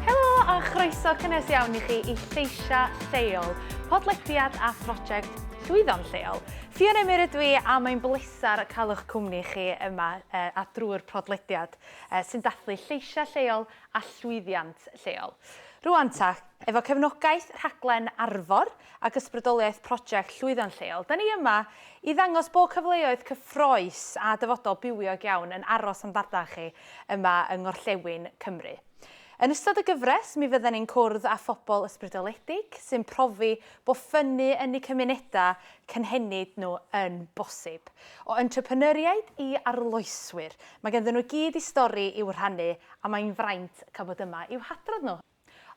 Helo a chroeso cynnes iawn i chi i Lleisiau Lleol, podlediad a phrosiect Llwyddo'n Lleol. Ffion Emyr ydw i a mae'n bleser cael eich cwmni chi yma a drwy'r podlediad sy'n dathlu lleisiau lleol a llwyddiant lleol. Rŵan ta, efo cefnogaeth rhaglen Arfor, ac ysbrydoliaeth Prosiect Llwyddo'n Lleol, da ni yma i ddangos bod cyfleoedd cyffroes a dyfodol bywiog iawn yn aros am ddarllen chi yma yng Ngorllewin Cymru. Yn ystod y gyfres, mi fydden ni'n cwrdd â phobl ysbrydoledig sy'n profi bod ffynnu yn eu cymunedau cynhenid nhw yn bosib. O entrepreneuriaid i arloeswyr, mae ganddyn nhw i gyd i stori i'w rhannu a mae'n fraint cael bod yma i'w hadrodd nhw.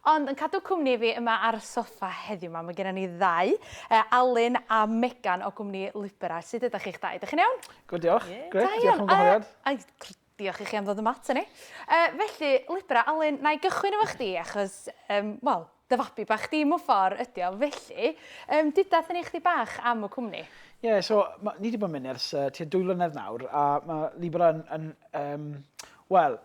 Ond yn cadw cwmni i fi yma ar y soffa heddiw 'ma, mae genna ni ddau, yy Alun a Megan o gwmni Libera. Sut ydach chi'ch dau? Ydych chi'n iawn? Good diolch. Ie. Grêt. Da iawn. Diolch am y gwahoddiad. Yy ai gr- diolch i chi am ddod yma aton ni. Yy felly Libera, Alun, na i gychwyn efo chdi achos yym wel, dy fabi bach di mewn ffor ydi o. Felly yym duda atho ni chdi bach am y cwmni. Ie so ma' ni 'di bod yn mynd ers yy tua dwy flynedd nawr a ma' Libera yn yn yym wel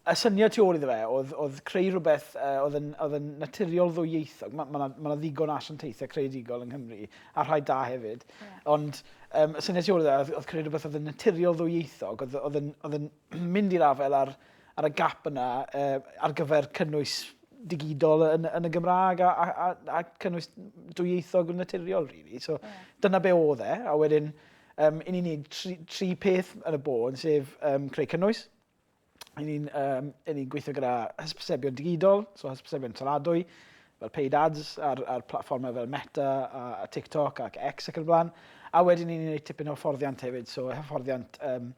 y syniad tu ôl iddo fe oedd, oedd creu rhywbeth uh, oedd, yn, oedd yn naturiol ddwyieithog. Mae yna ma, ma ddigon o asiantaethau creadigol yng Nghymru, a rhai da hefyd. Yeah. Ond um, y syniad tu ôl iddo fe oedd, oedd creu rhywbeth oedd yn naturiol ddwyieithog, oedd, oedd, yn, oedd yn mynd i'r afel ar, ar y gap yna uh, ar gyfer cynnwys digidol yn, yn y Gymraeg a, a, a, a cynnwys dwyieithog yn naturiol, really. So, yeah. dyna be oedd e, a wedyn Yym, i ni'n neud tri, tri peth yn y bôn, sef um, creu cynnwys, i ni'n um, ni gweithio gyda hysbysebion digidol, so hysbysebion taladwy, fel paid ads ar, ar platformau fel Meta a, a TikTok ac X ac yn y blaen. A wedyn ni'n gwneud tipyn o hyfforddiant hefyd, so hyfforddiant, um,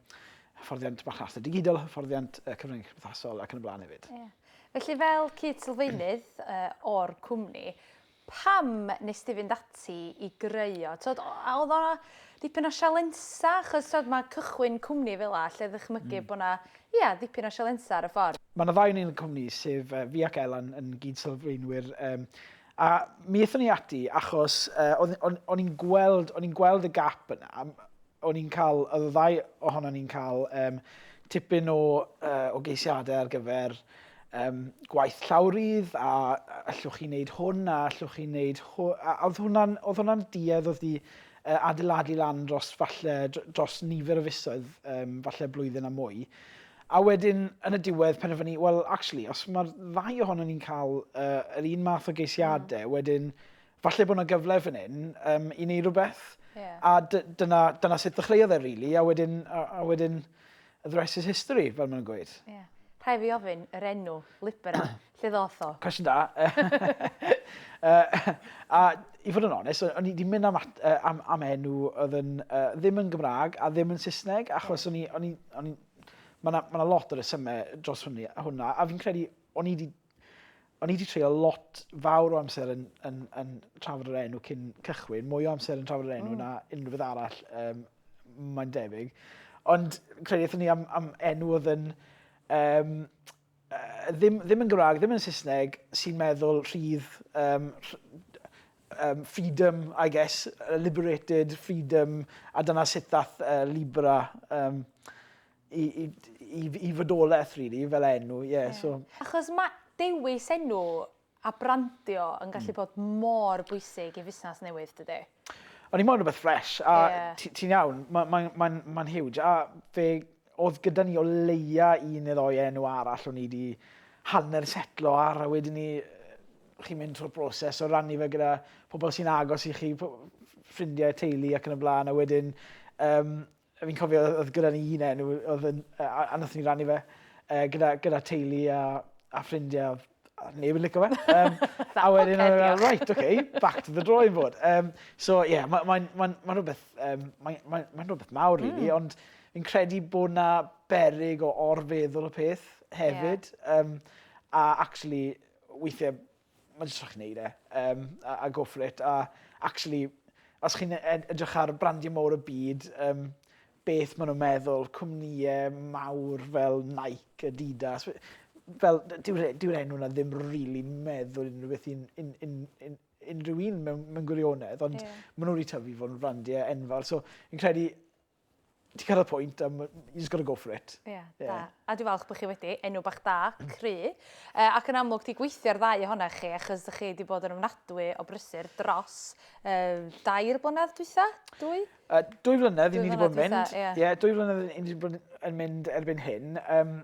hyfforddiant marchnata digidol, hyfforddiant uh, cyfryngau cymdeithasol ac yn y blaen hefyd. Yeah. Felly fel cyd-sylfaenydd uh, o'r cwmni, Pam nes di fynd ati i greu o? T'od o- a odd o dipyn o sialensa? Achos t'od ma' cychwyn cwmni fel 'a lle ddychmygu bo' 'na, ia, dipyn o sialensa ar y ffordd. Ma' 'na ddau o ni yn y cwmni sef yy fi ac Elan yn gyd-sylfaenwyr yym a mi ethon ni ati achos yy o'dd o'n o'n i'n gweld o'n i'n gweld y gap yna a m- o'n i'n ca'l o'dd y ddau ohonon ni'n ca'l yym tipyn o yy o geisiade ar gyfer um, gwaith llawrydd, a allwch chi wneud hwn, a allwch chi wneud hwn. A oedd hwnna'n hwnna duedd oedd di uh, adeiladu lan dros, falle, dros nifer o fisoedd, um, falle blwyddyn a mwy. A wedyn, yn y diwedd, penderfynu, well, actually, os mae'r ddau ohono ni'n cael uh, yr un math o geisiadau, mm. wedyn, falle bod yna gyfle fan hyn um, i wneud rhywbeth. Yeah. A dyna, dyna sut ddechreuodd e, really. A wedyn, a, a wedyn A thrice is history, fel maen nhw'n gweud. Ie. Rhaid fi ofyn, yr enw, Libera, lle ddoth o? Cwestiwn da. a i fod yn onest, o'n i wedi mynd am, at, uh, am, am enw oedd yn, uh, ddim yn Gymraeg a ddim yn Saesneg, achos o'n i, o'n i, o'n i, mae yna ma lot o resymau dros hwnna, a fi'n credu o'n i wedi o'n i wedi treulio lot fawr o amser yn, yn, yn trafod yr enw cyn cychwyn, mwy o amser yn trafod yr enw mm. na unrhyw beth arall, um, mae'n debyg. Ond credu eithon ni am, am enw oedd yn... Um, uh, ddim, ddim yn Gymraeg, ddim yn Saesneg, sy'n meddwl rhydd um, um, freedom, I guess, liberated, freedom, a dyna sut ddath uh, Libra um, i, i, i, i fydolaeth, really, fel enw, ie. Yeah, so... Achos mae dewis enw a brandio yn hmm. gallu bod mor bwysig i fusnes newydd, dydy? O'n i moyn rhywbeth ffres, a yeah. ti'n ti iawn, mae'n ma, ma, ma, ma huge, a fe oedd gyda ni o leia un neu ddoi enw arall o'n i wedi hanner setlo ar, a wedyn ni, chi'n mynd trwy'r broses o rannu fe gyda pobl sy'n agos i chi, ffrindiau, teulu ac yn y blaen, a wedyn um, fi'n cofio oedd gyda ni un enw oedd yn, a, a nath ni rannu fe uh, gyda, gyda teulu a, a ffrindiau a neb yn licio fe. Um, a wedyn oedd yn right, okay, back to the drawing board. Um, so ie, yeah, mae'n ma, ma, ma, ma rhywbeth, um, mae'n ma, ma, ma rhywbeth mawr mm. really, ond fi'n credu bod na berig o orfeddwl y peth hefyd. Yeah. Um, a actually, weithiau mae jyst rhaid gwneud e, um, a, a go for it. A actually, os chi'n e-, edrych ar brandiau mawr y byd, um, beth maen nhw'n meddwl, cwmnïau mawr fel Nike, Adidas, fel dyw'r dyw enw na ddim rili really meddwl unrhyw beth i'n in, in, in, unrhyw un mewn, mewn gwirionedd, ond yeah. maen nhw wedi tyfu fod yn brandiau enfawr. So, fi'n credu Ti'n cael y pwynt, um, you just got to go for it. Ie, yeah, yeah. da. A dwi'n falch bod chi wedi enw bach da, cry, uh, ac yn amlwg ti gweithio ar ddau ohona chi, achos ydych chi wedi bod yn ofnadwy o brysur dros uh, dair blynedd dwytha, dwy? Uh, dwy flynedd i ni wedi bod yn mynd. Ie, yeah. yeah, dwy flynedd i ni wedi bod yn mynd erbyn hyn. Um,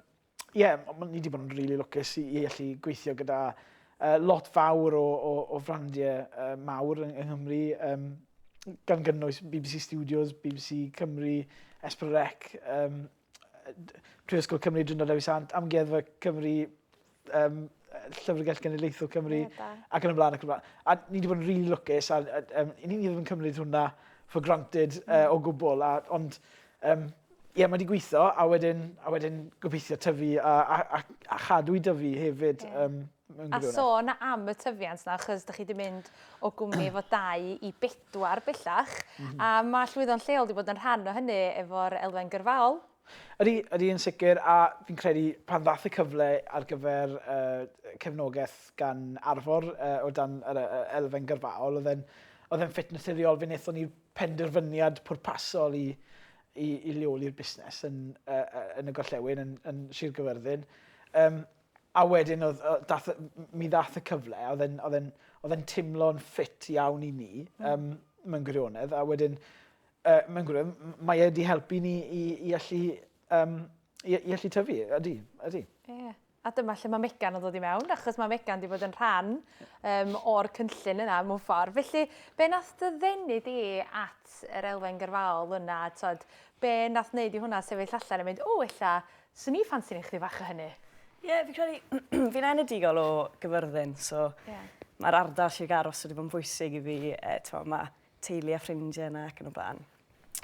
ie, yeah, ni wedi bod yn rili really lwcus i, i allu gweithio gyda uh, lot fawr o, o, o frandiau uh, mawr yng, yng Nghymru, um, gan gynnwys BBC Studios, BBC Cymru, Esper Rec, um, Prifysgol Cymru, Dryndod Dewi Sant, Amgueddfa Cymru, um, Llyfrgell Genedlaethol Cymru, yeah, ac yn y blaen ac yn y blaen. A ni wedi bod yn really lwcus, a, a um, ni ddim yn cymryd hwnna for granted mm. uh, o gwbl, a, ond um, ie, yeah, mae wedi gweithio, a wedyn, a wedyn gobeithio tyfu a, a, a, a chadw i dyfu hefyd. Yeah. Um, A sôn am y tyfiant na, chys da chi wedi mynd o gwmni efo dau i bedwar bellach, mm -hmm. a mae llwyddo'n lleol wedi bod yn rhan o hynny efo'r elfen gyrfaol, Ydy, ydy yn sicr a fi'n credu pan ddaeth y cyfle ar gyfer uh, cefnogaeth gan Arfor uh, o dan yr uh, elfen gyrfaol, oedd e'n oedd e'n ffit naturiol fe wnaethon ni penderfyniad pwrpasol i, i, i leoli'r busnes yn, uh, yn y gorllewin, yn, yn Sir Gyfyrddin. Um, a wedyn oedd, dath, mi ddath y cyfle, oedd e'n oedd e'n oedd e'n timlo'n ffit iawn i ni, um, mewn gwirionedd, a wedyn Yy, mae'n gwir, mae e wedi helpu ni i, i allu um, i, i allu tyfu, ydy, ydy. Ie. Yeah. A dyma lle mae Megan yn dod i mewn, achos mae Megan wedi bod yn rhan um, o'r cynllun yna mewn ffordd. Felly, be nath dy ddenu di at yr elfen gyrfaol yna? Tod, be nath wneud i hwnna sefyll allan a mynd, o, ella, swn i ffansi'n eich bach o hynny? Ie, yeah, fi'n credu, fi'n enedigol o gyfyrddin, so yeah. mae'r ardal lle garos wedi bod yn bwysig i fi. E, mae teulu a ffrindiau yna ac yn y blaen.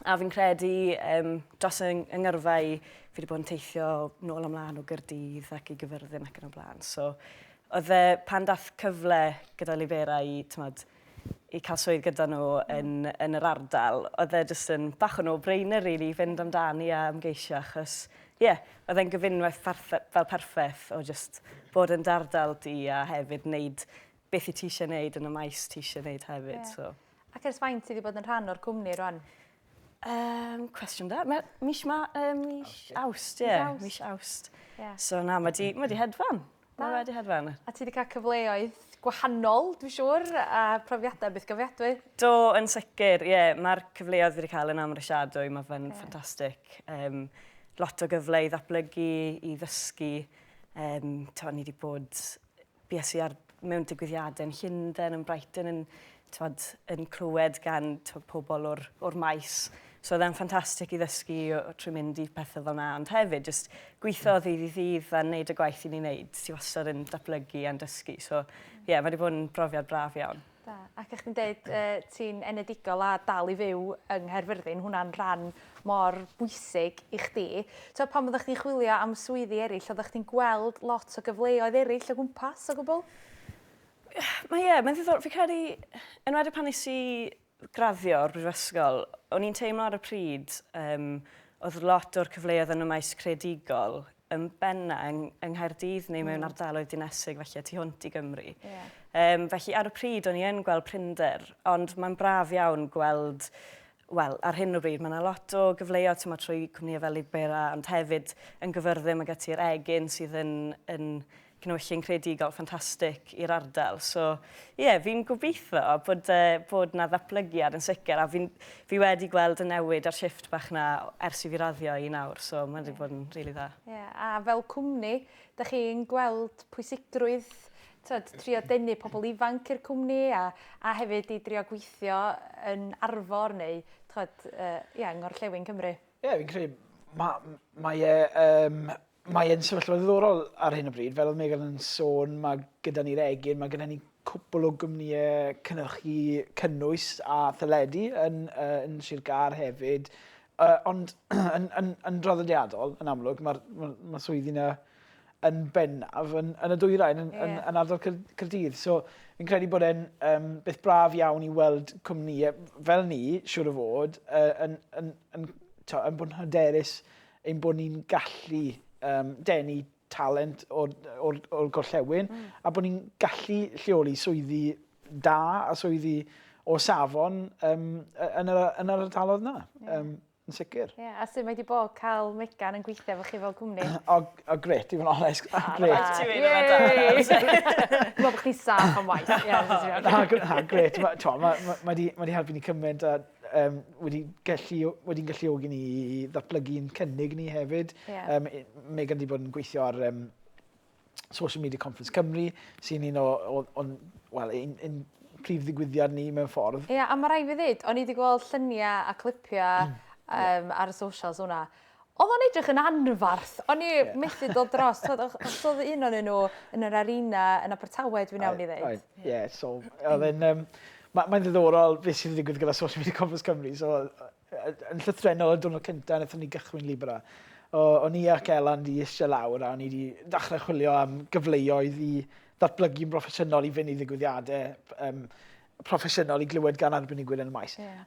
A fi'n credu um, dros y ngyrfa i, fi wedi bod yn teithio nôl ymlaen o Gyrdydd ac i gyfyrddin ac yn y blaen. So, oedd e pan dath cyfle gyda Libera i, tymod, i cael swydd gyda nhw yn, yn yr ardal, oedd e jyst yn bach o no-brainer really, fynd amdani a ymgeisio achos, ie, yeah, oedd e'n gyfunwaith fel perffaith o jyst bod yn dardal di a hefyd wneud beth i ti eisiau gwneud yn y maes ti eisiau gwneud hefyd. Yeah. So. Ac ers faint ti wedi bod yn rhan o'r cwmni rwan? Um, cwestiwn da. Mae mis ma, um, mis awst, ie. Yeah. Mis awst. Yeah. So na, mae di, ma di hedfan. Da. Mae wedi hedfan. A ti wedi cael cyfleoedd gwahanol, dwi'n siŵr, a profiadau beth gyfiadwy? Do, yn sicr, ie. Yeah. Mae'r cyfleoedd wedi cael yn amrysiadwy, mae fe'n yeah. ffantastig. Um, lot o gyfle i ddatblygu, i ddysgu. Um, to, ni wedi bod Bues i ar mewn digwyddiadau yn Llundain, yn Brighton, yn, tywed, yn clywed gan tywed, pobl o'r, or maes. So oedd e'n ffantastig i ddysgu trwy mynd i pethau fel yna, ond hefyd just gweithio o ddydd i ddydd a wneud y gwaith i ni'n wneud. Ti wastad yn datblygu a'n dysgu. So, ie, yeah, mae wedi bod yn brofiad braf iawn. Da. Ac o'ch chi'n deud ti'n enedigol a dal i fyw yng Nghaerfyrddin, hwnna'n rhan mor bwysig i chdi. T'o' pan oeddach chdi'n chwilio am swyddi eraill, oeddach chdi'n gweld lot o gyfleoedd eraill o gwmpas o gwbl? Mae ie, mae'n ddiddorol. Fi'n credu, enwedig pan nes i graddio o'r brifysgol, o'n i'n teimlo ar y pryd, oedd lot o'r cyfleoedd yn y maes creadigol yn benna yng, yng Nghaerdydd neu mewn mm. ardaloedd dinesig felly a tu hwnt i Gymru. Yeah. Um, felly ar y pryd o'n i yn gweld prinder, ond mae'n braf iawn gweld wel, ar hyn o bryd, mae yna lot o gyfleoedd tyma trwy cwmnïau fel Libera, ond hefyd yn gyfyrddum ag ati'r egin sydd yn, yn cynhwyllyn creadigol ffantastig i'r ardal. So, ie, yeah, fi'n gobeithio bod, uh, bod na ddatblygiad yn sicr, a fi, fi wedi gweld y newid a'r shift bach na ers i fi raddio i nawr, so mae wedi yeah. bod yn rili really dda. Ie, yeah. a fel cwmni, da chi'n gweld pwysigrwydd tyd, trio denu pobl ifanc i'r cwmni a, a hefyd i drio gweithio yn arfor neu tyd, uh, yeah, yng Ngorllewin Cymru? Ie, yeah, fi'n credu, mae ma e um, Mae e'n sefyllfa ddiddorol ar hyn o bryd. Fel oedd Megan yn sôn, mae gyda ni'r egin, mae gyda ni cwpl o gwmnïau cynnyrchu cynnwys a theledu yn, uh, yn Sir Gar hefyd. Uh, ond yn, yn, yn draddodiadol, yn amlwg, mae'r ma, ma swyddi yna yn bennaf yn, yn y dwyrain, yn, yeah. yn, yn ardal Cyrdydd. So, fi'n credu bod e'n um, beth braf iawn i weld cwmnïau fel ni, siwr o fod, uh, yn, yn, yn, to, yn bod yn hyderus ein bod ni'n gallu um, denu talent o'r, or, or gorllewin mm. a bod ni'n gallu lleoli swyddi da a swyddi o safon um, yn, yr, yn yr ardalodd yna. Yeah. Um, yn sicr. Ie, yeah, a sy'n mae wedi bod cael Megan yn gweithio efo chi fel cwmni? o, o gret, i fod yn onest. O, gret. Ti wedi fod da. Dwi'n bod chdi saff am waith. Na, gret. Mae wedi helpu ni cymaint a um, wedi gallu, wedi'n galluogi ni i ddatblygu yn cynnig ni hefyd. Yeah. Um, Megan wedi bod yn gweithio ar um, Social Media Conference Cymru, sy'n un o, o, o well, un, un prif ddigwyddiad ni mewn ffordd. Ie, yeah, a mae rai fi ddweud, o'n i wedi gweld lluniau a clipiau um, ar y socials hwnna, Odd o'n edrych yn anfarth. O'n i yeah. methu dod dros. Oedd oedd un o'n nhw yn yr arena yn Abertawe, dwi'n iawn i ddeud. Ie, yeah, so, oedd yn... Um, Mae'n ma ddiddorol beth sy'n digwydd gyda social media Conference Cymru. So, yn llythrenol y diwrnod cyntaf, wnaethon ni gychwyn Libra. O, o'n i ac Elan di eisiau lawr a o'n i wedi dechrau chwilio am gyfleoedd i ddatblygu'n broffesiynol i fynd i ddigwyddiadau um, proffesiynol i glywed gan arbenigwyr yn y maes. Yeah.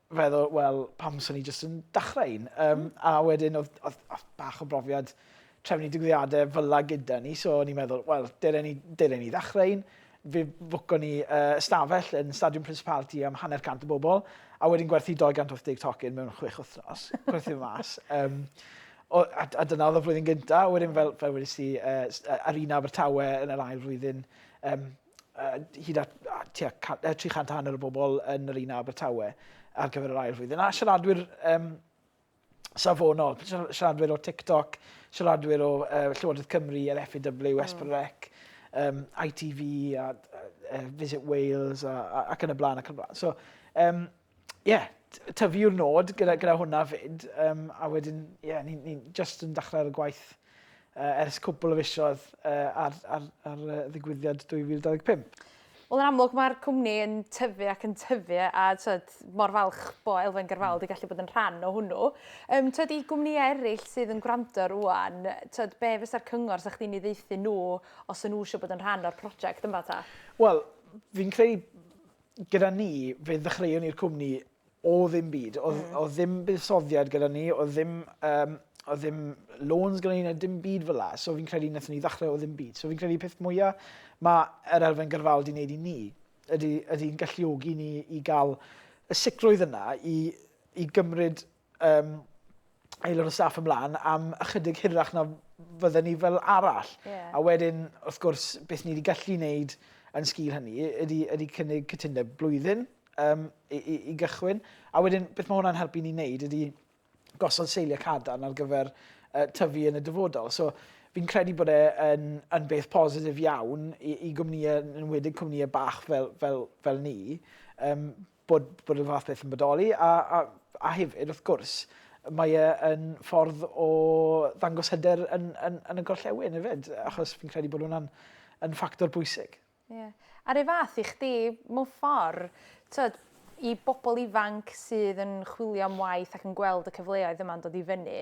feddwl, wel, pam swn i jyst yn dachrau un? Um, mm. A wedyn, oedd, oedd, oedd bach o brofiad trefnu digwyddiadau fyla gyda ni, so o'n i'n meddwl, wel, dylen ni, dylen ni ddechrau un. Fe fwco ni uh, stafell yn Stadiwm Principality am hanner cant o bobl, a wedyn gwerthu 280 tocyn mewn chwech wythnos, gwerthu mas. Um, o, a, a dyna oedd y flwyddyn gyntaf, wedyn fel, fel wedi si, uh, Arena Abertawe yn yr ail flwyddyn, um, hyd at uh, tua 300 hanner o bobl yn yr un Abertawe ar gyfer yr ail flwyddyn. A siaradwyr um, safonol, siaradwyr o TikTok, siaradwyr o uh, Llywodraeth Cymru, yr FEW, Esperec, um, ITV, a, uh, Visit Wales, a, a, ac yn y blaen, ac yn y blaen. So, um, ie yeah, tyfu yw'r nod gyda, gyda hwnna fyd. Um, a wedyn, ie, yeah, ni'n ni, ni just yn dechrau ar y gwaith uh, ers cwbl o fisiodd uh, ar, ar, ar, ar ddigwyddiad 2025. Wel, yn amlwg, mae'r cwmni yn tyfu ac yn tyfu a tyd, mor falch bo Elfen Gyrfaol wedi gallu bod yn rhan o hwnnw. Um, tyd, I gwmnïau eraill sydd yn gwrando rwan, tyd, be fysa'r cyngor sa'ch chi'n ei ddeithi nhw os yn nhw eisiau bod yn rhan o'r prosiect yma ta? Wel, fi'n credu gyda ni, fe ddechreuon ni'r cwmni o ddim byd. Oedd, mm. oedd ddim buddsoddiad gyda ni, oedd ddim, um, oedd ddim loans gyda ni, na dim byd fel la. So fi'n credu wnaethon ni ddechrau o ddim byd. So fi'n credu peth mwyaf mae yr elfen gyrfaol di wneud i ni, ydy'n ydy galluogi ni i gael y sicrwydd yna i, i gymryd um, aelod o staff ymlaen am ychydig hirach na fydden ni fel arall. Yeah. A wedyn, wrth gwrs, beth ni wedi gallu wneud yn sgil hynny ydy, ydy cynnig cytundeb blwyddyn um, i, i, i gychwyn. A wedyn, beth mae hwnna'n helpu ni wneud ydy gosod seiliau cadarn ar gyfer uh, tyfu yn y dyfodol. So, fi'n credu bod e yn, yn beth positif iawn i, i gwmnïau, yn wedig cwmnïau bach fel, fel, fel ni, um, bod bod y fath beth yn bodoli a a a hefyd wrth gwrs mae e yn ffordd o ddangos hyder yn yn yn y gorllewin hefyd achos fi'n credu bod hwnna'n yn ffactor bwysig. Ie. Yeah. A'r un fath i chdi mewn ffordd, tyd, i bobl ifanc sydd yn chwilio am waith ac yn gweld y cyfleoedd yma'n dod i fyny,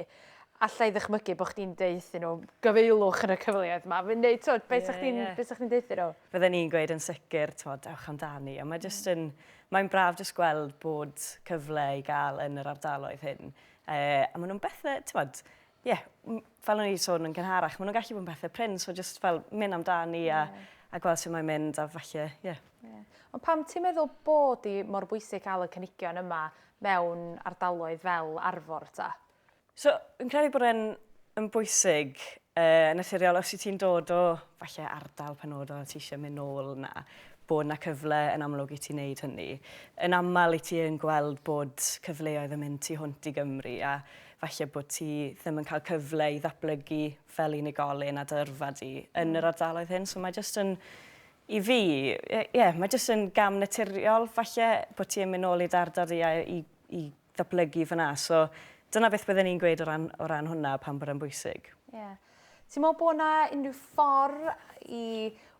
alla i ddychmygu bod chdi'n deuthu nhw, gyfeilwch yn y cyfleoedd yma. Fi'n neud, twod, beth yeah, chdi'n yeah. chdi deuthu nhw? Fydden ni'n gweud yn sicr, twod, ewch amdani. A mae just mm. yn, mae'n braf just gweld bod cyfle i gael yn yr ardaloedd hyn. E, a maen nhw'n bethau, twod, ie, yeah, fel o'n i sôn yn gynharach, maen nhw'n gallu bod yn bethau pryn, so just fel mynd amdani a, yeah. a gweld sy'n mae'n mynd a falle, ie. Yeah. Yeah. Ond pam ti'n meddwl bod i mor bwysig cael y cynigion yma mewn ardaloedd fel Arfor ta? So, fi'n credu bod e'n yn bwysig uh, yn naturiol os i ti'n dod o falle ardal penodol ti eisiau mynd nôl yna, bod yna cyfle yn amlwg i ti wneud hynny. Yn aml i ti yn gweld bod cyfleoedd yn mynd tu hwnt i Gymru a falle bod ti ddim yn cael cyfle i ddatblygu fel unigolyn a dy yrfa di yn yr mm. ardaloedd hyn. So mae jyst yn i fi, ie, yeah, mae jyst yn gam naturiol falle bod ti'n mynd ôl i dardod i, i, i ddatblygu fan'na. So, dyna beth bydden i'n gweud o ran, o ran hwnna, pam bod e'n bwysig. Ie. Yeah. Ti'n meddwl bod yna unrhyw ffordd i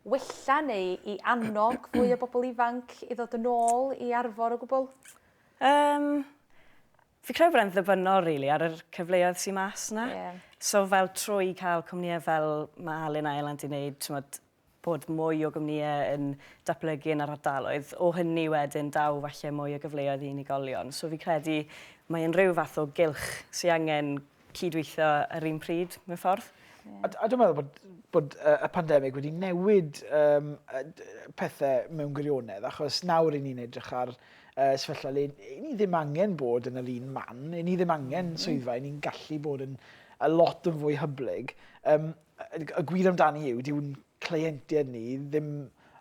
wella neu i annog fwy o bobl ifanc i ddod yn ôl i arfor o gwbl? Um, fi credu bod e'n ddibynnol, rili, really, ar yr cyfleoedd sy'n mas yna. Yeah. So, fel trwy cael cwmnïau fel mae Alun a Elan di wneud, ti'n bod mwy o gwmnïau yn datblygu yn yr ardaloedd. O hynny wedyn daw falle mwy o gyfleoedd i unigolion. So fi'n credu mae e'n rhyw fath o gylch sy angen cyd-weithio yr un pryd, mewn ffordd. Ie. A a dwi'n meddwl bod bod yy y pandemig wedi newid yym pethe mewn gwirionedd achos nawr 'yn ni'n edrych ar yy sefyllfa le 'yn ni ddim angen bod yn yr un man, 'yn ni ddim angen swyddfa, 'yn ni'n gallu bod yn a lot yn fwy hyblyg. Yym y gwir amdani yw, dyw ein cleientiaid ni ddim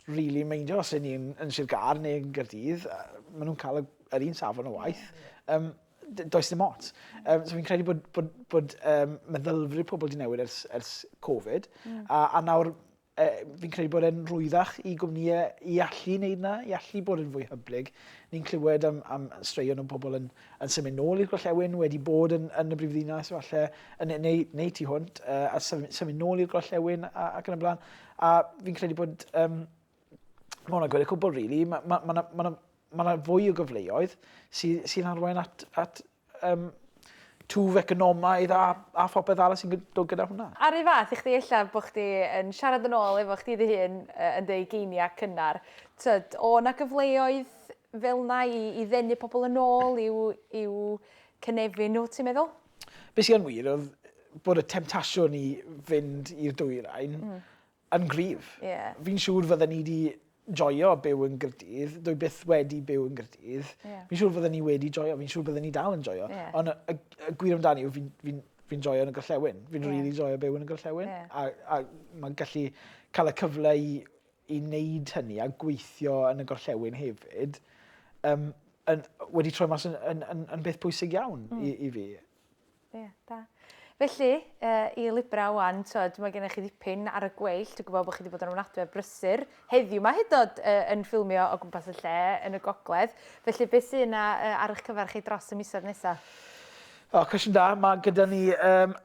rili yn meindio os 'yn ni yn yn Sir Gâr neu yn Gaerdydd ma' nhw'n cael y yr un safon o waith. Yym d- does dim ots. Yym so fi'n credu bod bod bod um, meddylfryd pobl 'di newid ers ers Covid hmm. a a nawr e, fi'n credu bod e'n rwyddach i gwmnïau i allu wneud 'na, i allu bod yn fwy hyblyg. Ni'n clywed am am straeon o bobl yn yn symud nôl i'r gorllewin, wedi bod yn, yn y brifddinas falle, yn, neu, neu tu hwnt, uh, a symud nôl i'r gorllewin ac yn y blaen. A fi'n credu bod, um, mae hwnna'n gwneud y cwbl, rili. Really. Mae ma, ma, ma, ma, ma, ma fwy o gyfleoedd sy'n sy arwain at, at um, twf economaidd a, a phopeth arall sy'n dod gyda hwnna. Ar ei fath i chdi illa bod chdi yn siarad yn ôl efo chdi dy hun yn dy geiniau cynnar. Tyd, o na gyfleoedd fel yna i i ddenu pobl yn ôl i'w i'w cynefin nhw, ti'n meddwl? Be sy yn wir oedd bod y temtasiwn i fynd i'r dwyrain yn gryf. Fi'n siŵr fydden ni 'di joio byw yn Nghaerdydd, dwi byth wedi byw yn Nghaerdydd, fi'n siŵr fydden ni wedi joio, fi'n siŵr bydden ni dal yn joio, ond y y gwir amdani yw fi'n fi'n fi'n joio yn y gorllewin, fi'n rili joio byw yn y gorllewin a a ma'n gallu cael y cyfle i i wneud hynny a gweithio yn y gorllewin hefyd, um, yn, wedi troi mas yn, yn, yn, yn beth pwysig iawn mm. i, i fi. Ie, yeah, da. Felly, uh, i Libra wan, tyd, mae gennych chi ddipyn ar y gweill. Dwi'n gwybod bod chi wedi bod yn ofnadwy ar brysur. Heddiw mae hyd oed uh, yn ffilmio o gwmpas y lle yn y gogledd. Felly, beth sy'n uh, ar eich cyfer chi dros y misoedd nesaf? O, cwestiwn da. Mae gyda ni um,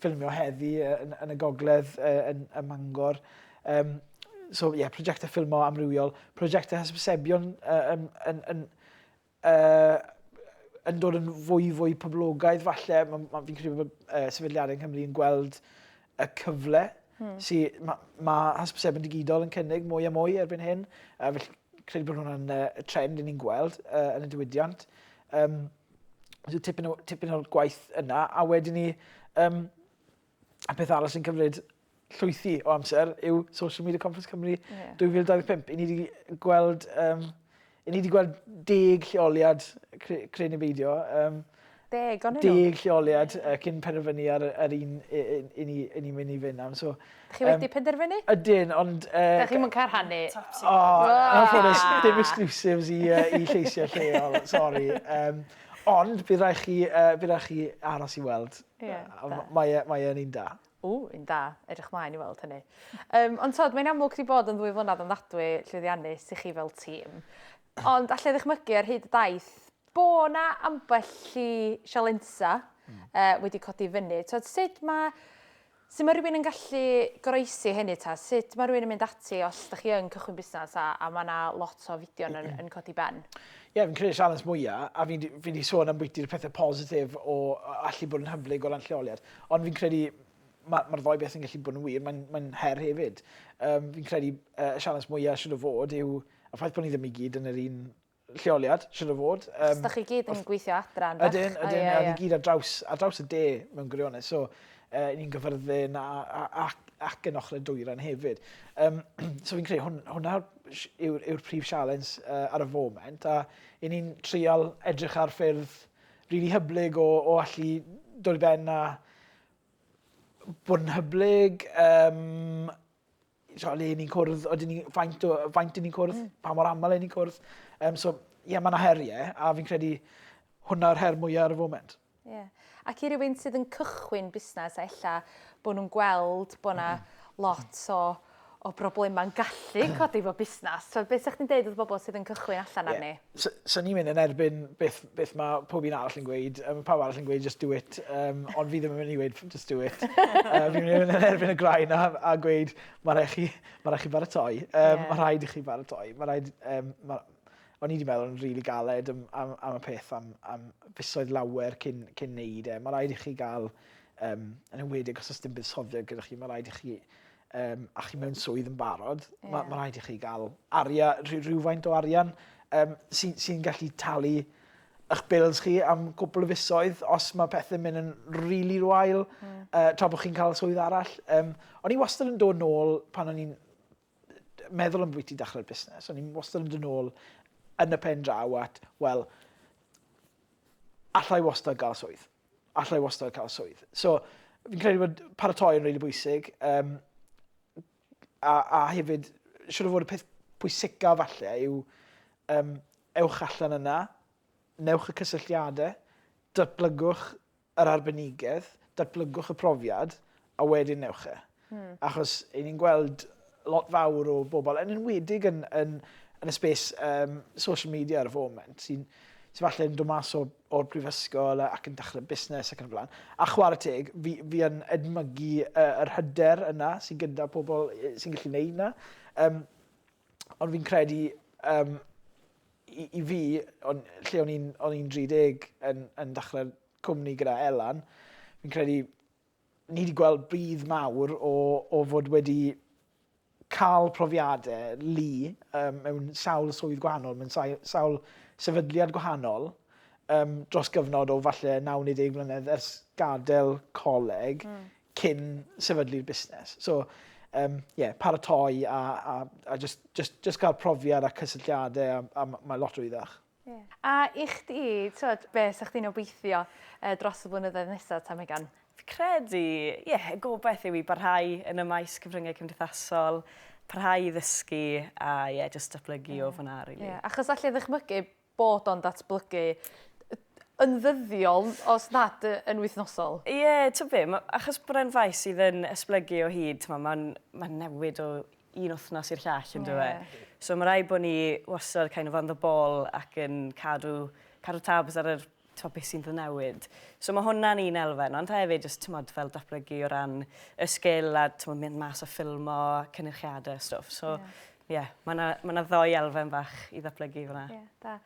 ffilmio heddi yn, yn y gogledd yn, yn Mangor. Um, so ie, yeah, prosiectau ffilmo amrywiol, prosiectau hysbysebion uh, yn, yn, yn, uh, yn dod yn fwy fwy poblogaidd falle. Mae, ma, fi'n credu bod uh, sefydliadau yng Nghymru yn gweld y cyfle hmm. sydd mae ma hysbysebion digidol yn cynnig mwy a mwy erbyn hyn. Uh, felly credu bod hwnna'n uh, trend yn ni'n gweld uh, yn y diwydiant. Um, So tipyn, o, tipyn o'r gwaith yna, a wedyn ni, um, a peth arall sy'n cymryd llwythi o amser yw Social Media Conference Cymru yeah. 2025. I ni wedi gweld, um, i ni wedi gweld deg lleoliad creu neu beidio. Um, deg, ond Deg lleoliad uh, cyn penderfynu ar yr un i, i, i, ni, i ni mynd i fynd am. So, Dych chi wedi penderfynu? Ydyn, ond... Dych chi'm yn cael rhannu? O, anffodus, dim exclusives i lleisiau lleol, sori. Ond bydd rhaid chi, bydd rhaid chi aros i weld. Ie, da. Mae e, mae e'n un da. O, un da. Edrych mlaen i weld hynny. Um, ond tod, mae'n amlwg wedi bod yn ddwy flynedd yn ddadwy llwyddiannus i chi fel tîm. Ond allai ddychmygu ar hyd y daith bo na ambell i sialensa mm. uh, wedi codi fyny. Tod, sut mae Sut mae rhywun yn gallu goroesi hynny ta? Sut mae rhywun yn mynd ati os dych chi yn cychwyn busnes a a mae 'na lot o fideon yn yn codi ben? Ie, fi'n credu y sialens mwya', a fi 'di fi 'di sôn ambwyti'r pethe positif o yy allu bod yn hyblyg o ran lleoliad, ond fi'n credu ma' ma'r ddou beth yn gallu bod yn wir, mae'n mae'n her hefyd. Yym fi'n credu yy y sialens mwya' siŵr o fod yw y ffaith bo' ni ddim i gyd yn yr un lleoliad, siwr o fod. Um, Os da chi gyd yn gweithio adra yn fach. Ydyn, ydyn, a ni gyd ar draws, ar draws y de mewn gwirionedd. So, uh, ni'n gyfyrddin a, a, a, ac yn ochr y dwyran hefyd. Um, so fi'n credu hwn, hwnna yw'r yw prif sialens uh, ar y foment a i ni'n trial edrych ar ffyrdd rili really hyblyg o, o allu dod i ben a bod yn hyblyg um, so, le ni'n cwrdd, oedden ni, faint, o, faint ni'n cwrdd, mm. pa mor aml ni'n cwrdd. Um, so, ie, yeah, mae yna heriau, a fi'n credu hwnna'r her mwyaf ar y foment. Ie. Yeah. Ac i rywun sydd yn cychwyn busnes, a ella bod nhw'n gweld bod yna lot o, o broblemau'n gallu codi fo busnes. So, beth ydych chi'n dweud wrth bobl sydd yn cychwyn allan yeah. arni? 'Swn ni'n mynd yn erbyn beth, beth mae pob un arall yn gweud. Um, pawb arall yn gweud just do it. Um, ond fi ddim yn mynd i weud just do it. um, fi'n mynd yn erbyn y graen a, a gweud mae rhaid chi, ma rhaid chi baratoi. Um, yeah. Mae rhaid i chi baratoi. Mae rhaid... Um, ma, o'n i wedi meddwl yn rili really galed am, am, am y peth am, am fisoedd lawer cyn, cyn neud e. Mae rhaid i chi gael, um, yn ymwedig os ysdim buddsoddiad gyda chi, mae rhaid i chi um, a chi mewn swydd yn barod, yeah. mae ma rhaid i chi gael aria, rhywfaint o arian um, sy'n sy, gallu talu eich bills chi am gwbl o fisoedd os mae pethau'n mynd yn rili really rwael mm. uh, tra bod chi'n cael swydd arall. Um, o'n i wastad yn dod nôl pan o'n i'n meddwl am bwyty dechrau'r busnes. O'n i'n wastad yn dod nôl yn y pen draw at, wel, allai wastad gael swydd. alla i wastad cael swydd. So, fi'n credu bod paratoi yn rili bwysig. Um, a, a hefyd, siwr o fod y peth pwysica falle yw um, ewch allan yna, newch y cysylltiadau, datblygwch yr arbenigedd, datblygwch y profiad, a wedyn ewch e. Hmm. Achos i ni'n gweld lot fawr o bobl, yn enwedig yn, yn, yn y spes um, social media ar y foment, sy'n sy falle yn dod mas o'r, or prifysgol ac yn dechrau busnes ac yn y blaen. A chwarae teg, fi, fi yn edmygu uh, yr hyder yna sy'n gyda pobl sy'n gallu gwneud yna. Um, ond fi'n credu um, i, i fi, on, lle o'n i'n 30 yn, yn dechrau cwmni gyda Elan, fi'n credu ni wedi gweld budd mawr o o fod wedi cael profiade lu um, mewn sawl swydd gwahanol, mewn sawl sefydliad gwahanol um, dros gyfnod o falle 90 mlynedd ers gadael coleg mm. cyn sefydlu'r busnes. So, um, yeah, paratoi a, a, a just, just, just cael profiad a cysylltiadau a, a mae lot o iddach. Ie. A i chdi t'wod be' sa chdi'n obeithio yy dros y blynyddoedd nesa ta Megan? Fi credu ie y gobeth yw i barhau yn y maes cyfryngau cymdeithasol, parhau i ddysgu a ie jyst datblygu yeah. o fyna rili. Really. Yeah. Achos allai ddychmygu bod o'n datblygu yn ddyddiol os nad yn wythnosol. Ie, yeah, ti'n be, achos bod e'n faes sydd yn esblygu o hyd, mae'n ma newid o un wythnos i'r llall yn dywe. Yeah. So mae rhaid bod ni wastad kind of on the ball ac yn cadw, cadw tabs ar yr to beth sy'n dod newid. So mae hwnna'n un elfen, ond hefyd jyst tymod fel datblygu o ran y sgil a tymod mynd mas a ffilmo, cynnychiadau a stwff. So yeah. Yeah, mae yna ma ddoi elfen fach i ddatblygu fyna. Yeah, da.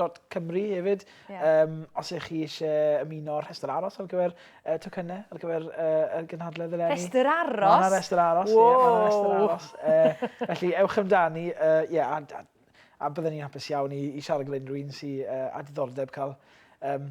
dot Cymru hefyd. Yeah. Um, os ych chi eisiau ymuno o'r rhestr aros ar gyfer uh, tocynnau, ar gyfer uh, y gynhadledd eleni. Rhestr aros? Mae'n yna rhestr aros, ie, yeah, mae'n rhestr aros. Uh, felly, ewch amdani, ie, uh, yeah, a, a, a byddwn ni'n hapus iawn i, i siarad gyda unrhyw un sy'n uh, a diddordeb cael um,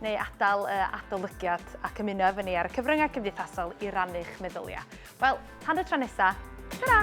neu adael y adolygiad ac ymuno efo ni ar y cyfryngau cymdeithasol i rannu'ch meddyliau. Wel, tan y tro nesa, ta-ra!